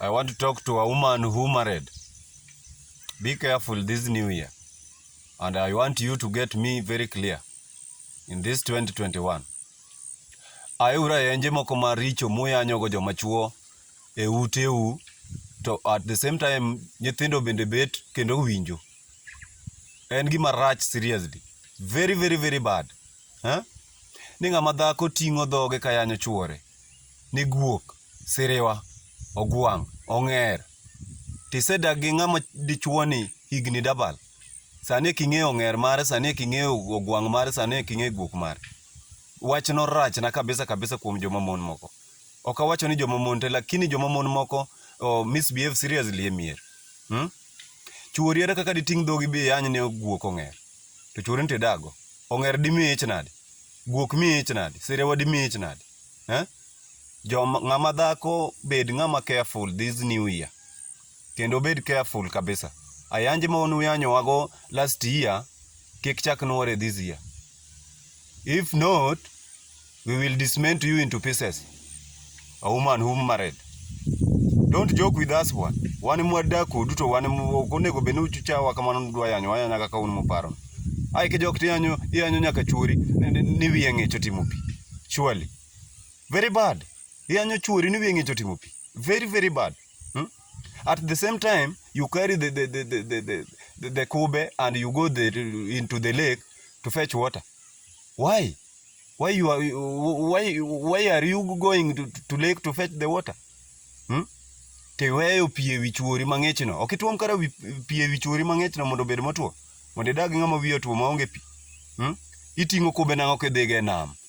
I want to talk to a woman who married. Be careful this new year. And I want you to get me very clear in this 2021. Ayura enje moko maricho muyanyogo joma chuo e uteu to at the same time nyithindo bende bet kendo winjo. En gima rach seriously. Very very very bad. Eh? Ni ng'ama dhako ting'o dhoge ka yanyo chuore. Ni guok, siriwa, ogwang', ong'er. Tisedak gi ng'ama dichuoni higni dabal. Sani eki ing'eyo ong'er mare, sani eki ing'eyo ogwang' mare, sani eki ing'eyo guok mare. Wachno rachna kabisa kabisa kuom joma mon moko. Ok awacho ni joma mon te, lakini joma mon moko oh, misbehave seriously e mier. Hmm? Chwori ere kaka diting' dhogi bi iany ne guok ong'er? To chwori nitie dago. Ong'er dimi ich nadi? Guok mi ich nadi? Sirewa dimi ich nadi? Eh? Joma ng'ama dhako bed ng'ama careful this new year. Kendo bed careful kabisa. Ayanji ma unuyanyowago last year kik chak nwore this year. If not, we will dismantle you into pieces. A woman whom married. Don't joke with us one. Wan mwadak kodu to wan ok onego bed ni uchawa kamano ni udwa yanyo wayanya kaka un muparo. Ai ki jok tiyanyo iyanyo nyaka chuori ni wiye ng'ich otimo pi. Surely. Very bad. Iyanyo chuori ni wiye ng'ich otimo pi. very very bad hmm? at the same time you carry the the the the the, the, the, the kube and you go the, into the lake to fetch water why why you are why why are you going to, to lake to fetch the water hmm? tiweyo pi ewi chuori mang'echno ok ituom kata pi ewi chuori mang'echno mondo obed motwo mondo idag ng'ama wiye otwo maonge pi hmm? iting'o kube nang'o kidhiga e nam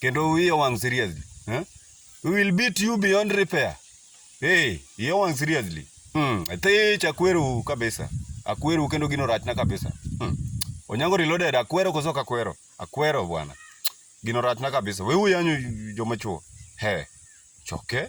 kendo wiye wang' seriously eh? we will beat you beyond repair hey iye wang' seriously hmm. thich akweru kabisa akweru kendo gino rachna kabisa hmm. onyango reloaded akwero koso kakwero akwero bwana gino rachna kabisa we uyanyo joma chuo he choke okay.